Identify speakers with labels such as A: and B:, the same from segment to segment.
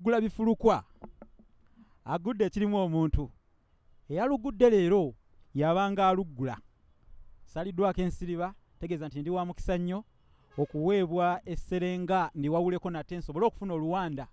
A: gula bifulukwa agudde ekirimu omuntu eyalugudde leero yabanga aluggula saliddwako ensiriba tegeeza nti ndi wa mukisa nnyo okuweebwa esserenga ndiwawuleko nate nsobole okufuna oluwanda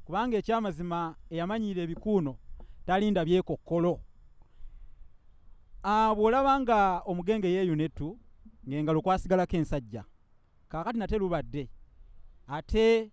A: kubanga ekyamazima eyamanyiira ebikuuno talinda byekokkolo ah, bw'olaba nga omugenge yeeyuna ettu ng'engalo kwasigalako ensajja kaakati nate lubadde ate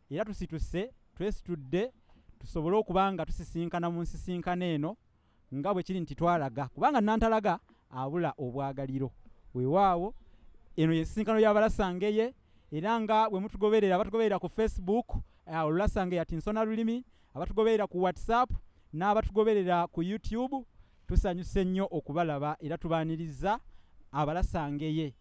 A: era tusituse twesitudde tusobole okuba nga tusisinkana mu nsisinkana eno nga bwe kiri nti twalaga kubanga nantalaga abula obwagaliro weewaawo eno yensisinkano yabalasangeye era nga bwe mutugoberera abatugoberera ku facebook eh, olulasangeye ati nsona lulimi abatugoberera ku whatsapp n'abatugoberera ku youtube tusanyuse nnyo okubalaba era tubaaniriza abalasangeye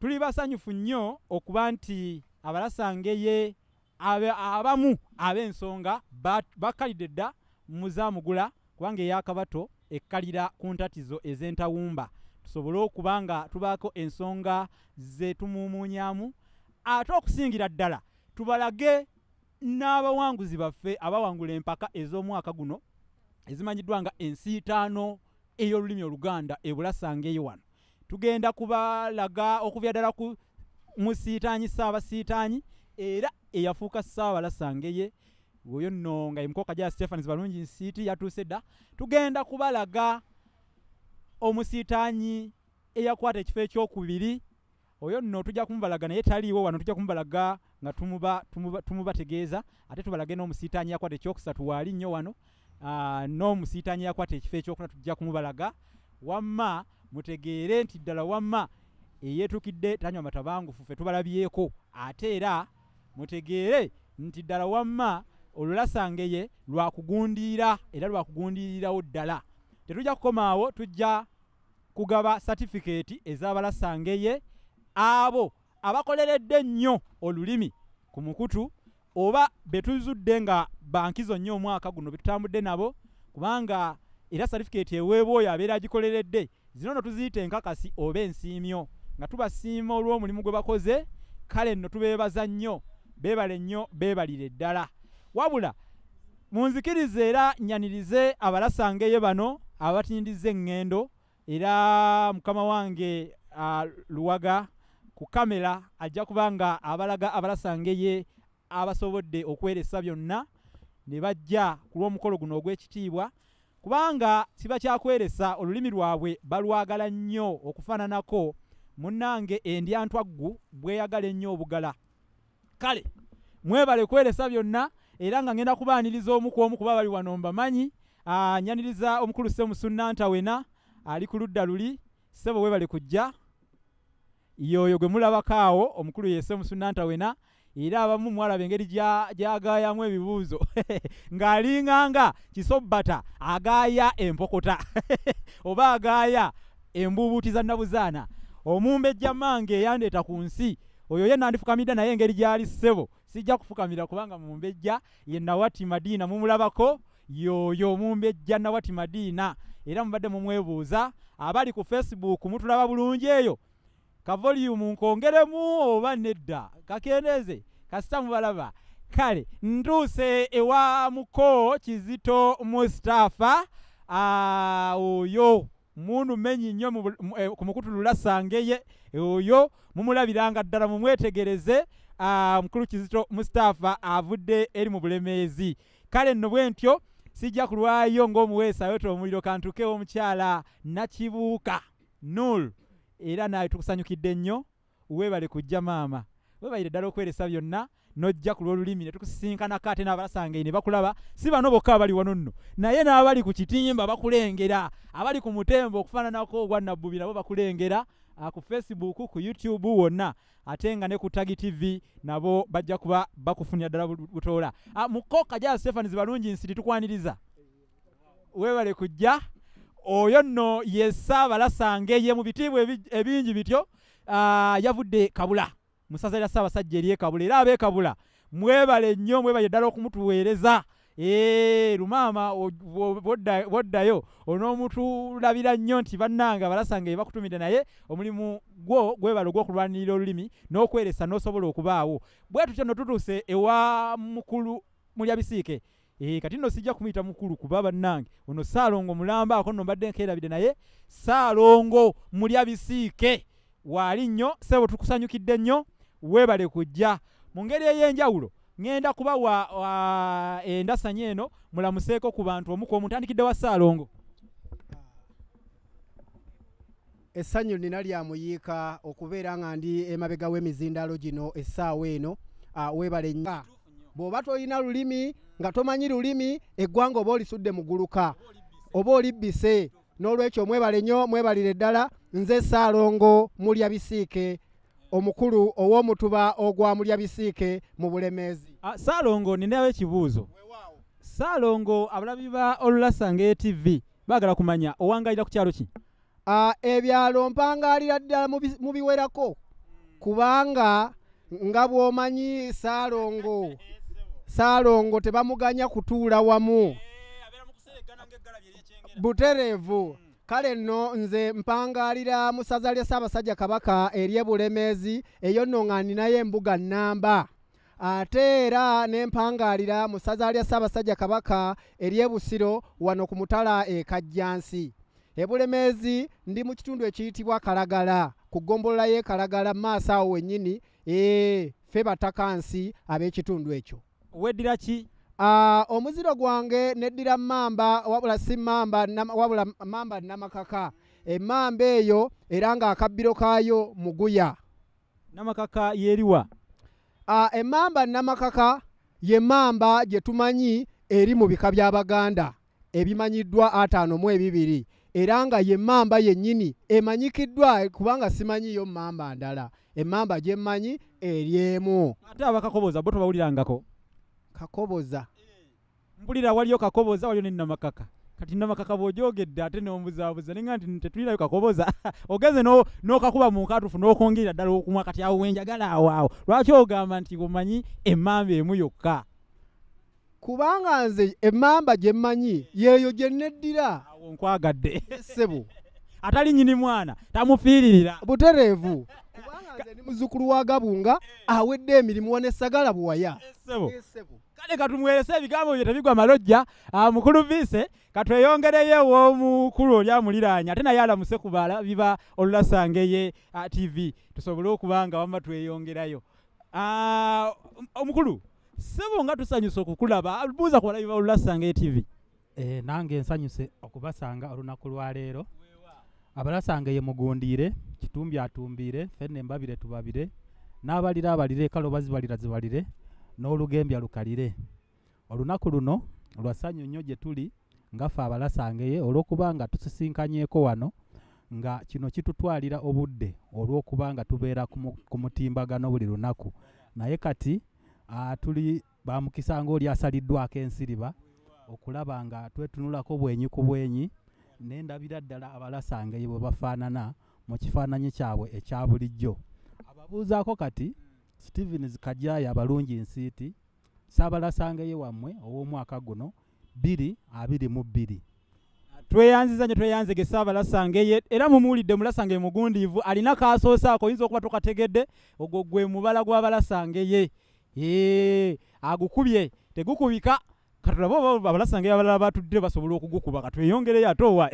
A: Tuli basanyufu nnyo okuba nti abalasange ye abamu ab'ensonga bakkalidde dda mu Zamugula kubanga eya Kabato ekkalira ku ntatizo ez'entawumba tusobole okuba nga tubaako ensonga ze tumuumuunyaamu ate okusingira ddala tubalage n'abawanguzi baffe abawangula empaka ez'omwaka guno ezimanyiddwa nga ensiitaano ey'olulimi oluganda ebulasanga eyo wano tugenda kubalaga okuvya ddala ku musiitaanyi ssaabasiitaanyi era eyafuuka ssaabalasangeye oyo nno nga emukoka gya stephans balungi nsiiti yatuuse dda tugenda kubalaga omusiitaanyi eyakwata ekifo ekyokubiri oyo nno tujja kumubalaga naye taliiwo wano tujja kumubalaga nga tumubategeeza tumuba, tumuba ate tubalage n'omusiitaanyi yakwata ekyokusatu waali nnyo wano uh, n'omusiitaanyi yakwata ekifo ekyokuna tujja kumubalaga wamma mutegeere nti ddala wamma eyeetukidde tanywa matabangufu fe tubalabyeko ate era mutegeere nti ddala wamma olulasangeye lwakugundiira era lwakugundiirirawo ddala tetujja kukomaawo tujja kugaba satifikeeti ez'abalasa ngeye abo abakoleredde ennyo olulimi ku mukutu oba betuzudde nga bankizo nnyo omwaka guno betutambudde nabo kubanga era satifikeeti eweebwa oyo abeera agikoleredde zino no tuziyita enkakasi oba ensiimyo nga tubasiima olw'omulimu gwe bakoze kale nno tubeebaza nnyo beebale nnyo beebalire ddala wabula Munzikirize era nyanirize abalasangeye bano abatindiza eŋŋendo era mukama wange uh, luwaga ku kamera ajja kuba nga abalaga abalasangeye abasobodde okweresa byonna ne bajja ku lw'omukolo guno ogw'ekitiibwa kubanga kiba kyakweresa olulimi lwabwe balwagala nnyo okufaananako munnange endyantwaggu bweyagala ennyo obugala kale mwebale kweresa byonna era nga ngenda kubaaniriza omu ku omu kuba bali wano mbamanyi ah, nyaniriza omukulu semusunnanta wena ali ku ludda luli sebo webale kujja yoyo gwe mulabako awo omukulu yese musunnanta wena era abamu mwalaba engeri gyagayamu ebibuuzo ng'alinganga kisobbata agaaya empokota oba agaaya embuubuuti za nnabuzaana omumbejja mange eyandeeta ku nsi oyo ye nandifukamidde naye engeri gyali ssebo sijja kufukamira kubanga mumbejja ye nawati madiina mumulabako yoyo mumbejja nawati madiina era mubadde mumwebuuza abali ku facebook mutulaba bulungi eyo kavolyumu nkongeremu oba nedda kakendeeze kasita mubalaba kale ntuuse ewa muko kizito mustafa ah, oyo mundu menyi nnyo eh, ku mukutu lulasa ngeye eh, oyo mumulabiranga ddala mumwetegereze ah, mukulu kizito mustapha avudde eri mu bulemeezi kale nno bwe ntyo sijja kulwayo ng'omuweesa ayota omuliro kantukewo omukyala nakibuuka nul era naye tukusanyukidde nnyo Webale kujja maama. Webayire ddala okweresa byonna n'ojja ku lw'olulimi ne tukusisinkanako ate n'abalasangaye ne bakulaba si bano bokka abali wano nno naye n'abali ku kitimba bakulengera abali ku mutembo okufaananako ogwa nabbubi nabo bakulengera ah, ku facebook ku youtube wonna ate nga ne ku tagi tv nabo bajja kuba bakufunira ddala butoola ah, mukoka ja stephani zibalungi nsiti tukwaniriza webale kujja oyo nno ye ssaabalasange ye mu bitiibwa ebingi bityo ah, yavudde kabula mu ssaza lya ssaabasajja eri ekabula era abeekabula mwebale nnyo mwebale ddala okumutuweereza eh, lumaama bwoddayo onoomutulabira nnyo nti bannanga balasanga ye bakutumidde naye omulimu gwo gwebale ogw'okulwanirira olulimi n'okweresa n'osobola okubaawo bwe tutyo no tutuuse ewa mukulu mulya bisiike Eh, kati no sijja kumuyita mukulu kuba bannange ono saalongo mulamba ako no mbadde nkeerabidde naye saalongo mulya bisiike waali nnyo sebo tukusanyukidde nnyo weebale kujja mu ngeri ey'enjawulo ŋenda kuba wa, wa endasanya eno mulamuseeko ku bantu omuku omutandikidde wa saalongo
B: essanyu nina lya muyiika okubeera nga ndi emabega w'emizindaalo gino essaawa eno ah, weebale nnyo bw'oba tolina lulimi nga tomanyi lulimi eggwanga oba olisudde muguluka oba olibbise n'olwekyo mwebale nnyo mwebalire ddala nze saalongo mulya bisiike omukulu ow'omutuba ogwa mulya bisiike mu bulemeezi ah, saalongo ninayo
A: ekibuuzo saalongo abalabi ba olulasanga etv baagala kumanya owangalira ku kyalo ki Ah, ebyalo
B: mpangaalira ddala mu bi- mu biwerako kubanga nga bw'omanyi saalongo saalongo tebamuganya kutuula wamu butereevu kale nno nze mpangaalira mu ssaza lya ssaabasajja kabaka ery'e bulemeezi eyo nno nga ninayo embuga nnamba ate era n'empangaalira mu ssaza lya ssaabasajja kabaka ery'e busiro wano ku mutala e kajjansi e bulemeezi ndi mu kitundu ekiyitibwa kalagala ku ggombolola y'e kalagala mu maaso awo wennyini ee ffe bataka nsi ab'ekitundu ekyo weddira ki
A: Ah, omuziro
B: gwange neddira mamba wabula si mamba nam- wabula mamba namakaka emamba eyo era nga akabbiro kaayo muguya namakaka
A: yeriwa uh, emamba
B: namakaka ye mamba gye tumanyi eri mu bika by'abaganda ebimanyiddwa ataano mu ebibiri era nga ye mamba yennyini emanyikiddwa kubanga simanyiyo mamba ndala emamba gye mmanyi eri emu ate abakakoboza
A: bo tobawulirangako kakoboza mbulira waliyo kakoboza waliyo ne namakaka kati namakaka bw'ogyogedde ate n'ombuzaabuza ninga nti tetulinayo kakoboza ogenze n'okakuba mu nkatufu n'okwongerera ddala okumwa kati awo wenjagala awaawo lwaki ogamba nti omanyi emmamba emu yokka
B: kubanga nze emmamba gye mmanyi yeeyo gye nneddira awo nkwagadde
A: ssebo
B: atali nyini
A: mwana tamufiiririra butereevu
B: kubanga nze ndi muzzukulu wa gabunga awedde emirimu wanesagala buwaya ssebo
A: kale katumuwerese ebigambo bye tebigwa malojja ah, mukulu viise katweyongereyo ew'omukulu oli amuliraanya ate naye alamuse ku biba olulasangeye ah, tv tusobole okuba nga wamma tweyongerayo ah, omukulu sebo nga tusanyusa okukulaba buuza ku balabi ba olulasangeye tv Eh, nange
C: nsanyuse okubasanga olunaku lwaleero abalasanga ye mugundiire kitumbi atumbiire fenne mbabire tubabire n'abalira abalire kale oba zibalira zibalire n'olugembya lukalire olunaku luno lwa ssanyu nnyo gye tuli ngaffe abalasangeye olw'okuba nga tusisinkanyeeko wano nga kino kitutwalira obudde olw'okuba nga tubeera ku mutimbagano buli lunaku naye kati ah, tuli bamukisa ng'oli asaliddwako ensiriba okulaba nga twetunulako bwenyi ku bwenyi naye ndabira ddala abalasangeye bwe bafaanana mu kifaananyi kyabwe ekya bulijjo ababuuzaako kati stevens kajaya abalungi nsiiti saabalasangeye wammwe ow'omwaka guno bbiri abiri mu bbiri
A: tweyanziza nyo tweyanzege saabalasangeye era mumuwulidde mulasangeye mugundiivu alina kaasoose ako oyinza okuba tokategedde ogwo gwe mubala gwabalasangeye ee agukubye tegukubika katulaba oba abalasangeye abalala batudde basobola okugukuba katweyongereyo ate owa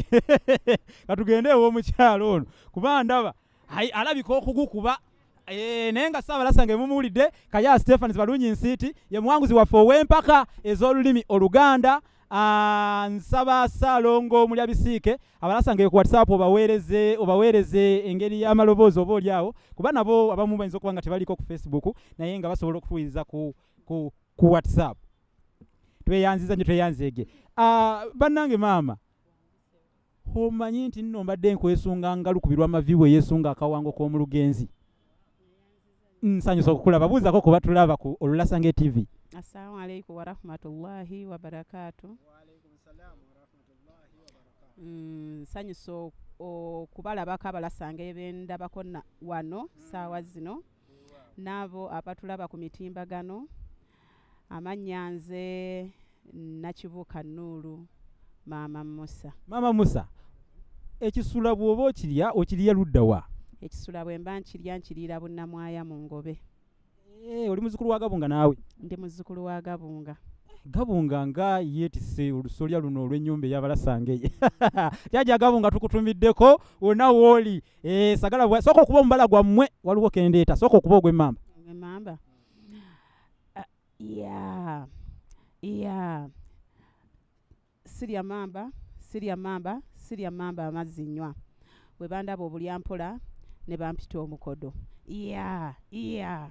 A: katugende ewomukyalo ono kuba ndaba Hai alabika okugukuba Eh, naye nga ssaabalasa nga emumuwulidde kaya stephans balungi nsiiti ye muwanguzi waffe ow'empaka ez'olulimi oluganda ah, nsaba saalongo mulya bisiike abalasa nga ekuwatsapp obaweereze obaweereze engeri y'amaloboozi oba oli awo kuba nabo abamu bayinza okuba nga tebaliko ku facebook naye nga basobola okutuwiriza ku, ku, ku whatsapp tweyanziza nyo tweyanzeege ah, bannange maama omanyi nti nno mbadde nkwesunga ngalu ku birwa mavi we yesunga akawango k'omu lugenzi nsanyusa okukulaba buuzako kuba tulaba ku olulasange tv assalamu alaikum
D: warahmatullahi wabarakatu mm,
B: nsanyusa
D: okubalabako abalasange bendabako wano saawa zino n'abo abatulaba ku mitimbagano. Amannya nze Nakibuuka Nuulu, Maama Musa. Maama Musa,
A: ekisula bw'oba okirya okirya ludda wa? Ekisula bwe mba
D: nkirya nkiriira Bunnamwaya mu Ngobe. Eh, oli
A: muzzukulu wa Gabunga naawe? Ndi muzzukulu wa
D: Gabunga. Gabunga
A: nga yeetisse olusolya luno olw'ennyumba ey'abalasangeye. Jjajja Gabunga tukutumiddeko wonna w'oli. Eh, sagala bwa soko kuba mbala gwa mwe waliwo kendeta soko kuba gwe mamba. Gwe mamba.
D: Uh, eh, yeah. Yeah. Siria mamba, siria mamba, siria mamba amazinywa. Webanda bo bulya mpola ne bampita omukodo. Yeah, yeah.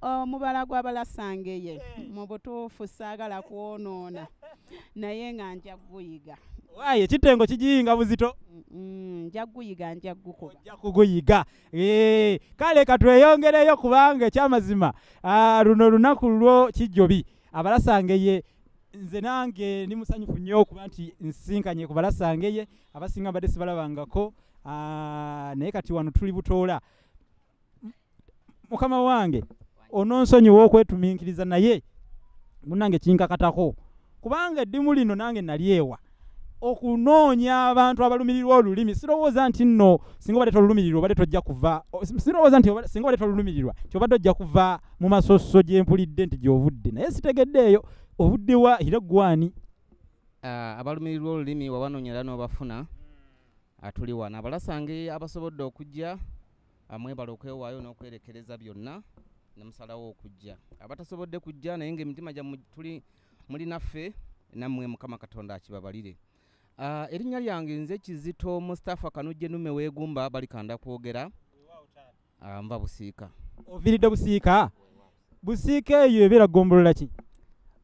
D: omubala gwabalasangeye mu butuufu saagala kwonoona naye nga nja kuguyiga waaye kitengo
A: kigiyinga buzito nja
D: kuguyiga nja kukubaja kuguyiga
A: kale katweyongereyo kubanga ekyamazima ah, luno olunaku lwo kijjobi abalasangeye nze nange ndi musanyufu nnyo okuba nti nsisinkanye ku balasangeye abasinga mbadde sibalabangako ah, naye kati wano tuli butoola mukama wange ononsonyiwa okwetuminkiriza naye munange kinkakatako kubanga eddimu lino nange nali ewa okunoonya abantu abalumirirwa olulimi sirowooza nti nno singa obadde tolulumirirwa obadde tojja kuva sirowooza nti singa obadde tolulumirirwa nti obadde ojja kuva mu masosso gye mpulidde nti gy'ovudde naye sitegeddeeyo ovudde wa era ggwani ah,
E: abalumirirwa olulimi wabanoonya era n'obafuna atuli wano abalasange abasobodde okujja Mwebale okwewaayo n'okwerekereza byonna ne musalawo okujja. Abatasobodde kujja naye ng'emitima gyammwe tuli muli naffe nammwe Mukama Katonda akibabalire. Ah, erinnya lyange nze Kizito Mustafa Kanujje Nume Weegumba balikanda kwogera ah, nva Busiika. Oviiridde Busiika?
A: Busiika eyo ebeera ggombolola ki?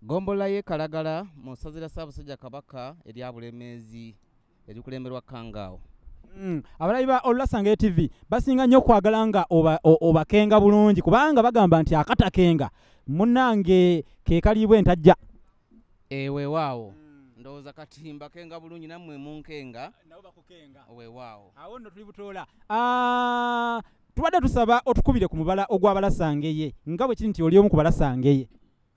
A: Ggombolola y'e
E: Kalagala mu ssaza lya Ssaabasajja Kabaka erya Bulemeezi. erikulemberwa kangaawo Mm. abalabi
A: ba olulasanga tv basinga nnyo okwagala nga obakenga oba bulungi kubanga bagamba nti akatakenga munange kekaliibwa entajja ewewaawo
E: eh, mm. ndowooza kati mbakenga bulungi nammwe munkenga
A: wewaawo awo nno
E: tuli butoola
A: ah, tubadde tusaba otukubire ku mubala ogw'abalasangeye nga bwe kiri nti oli omu ku balasangeye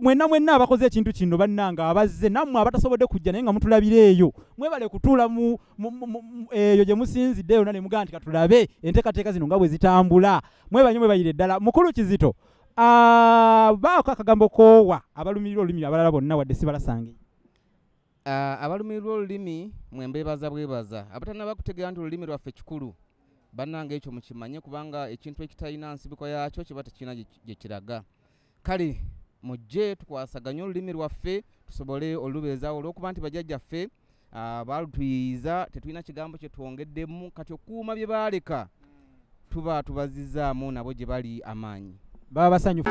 A: mwenna mwenna abakoze ekintu kino bannange abazze nammwe abatasobodde kujja naye nga mutulabira eyo mwebale kutuula eyo gye musinzidde yona ne mugaa nti katulabe enteekateeka zino nga bwe zitambula mwebanyo mwebayire ddala mukulu kizito ah, baako akagambo koowa abalumirirwa olulimi abalala bonna wadde sibalasange ah,
E: abalumirirwa olulimi mwembeebaza bwebaza abatanaba kutegeera nti olulimi lwaffe kikulu bannange ekyo mukimanye kubanga ekintu ekitalina nsibuko yaakyo kiba tekirina gye kiraga kale mujje tukwasaganye olulimi lwaffe tusobole olubeezaawo olwokuba nti bajajjaffe ah, baalutuyiiza tetulina kigambo kye twongeddemu kati okuuma bye baaleka tuba tubazizzaamu nabo gye bali amaanyi baba
A: basanyufu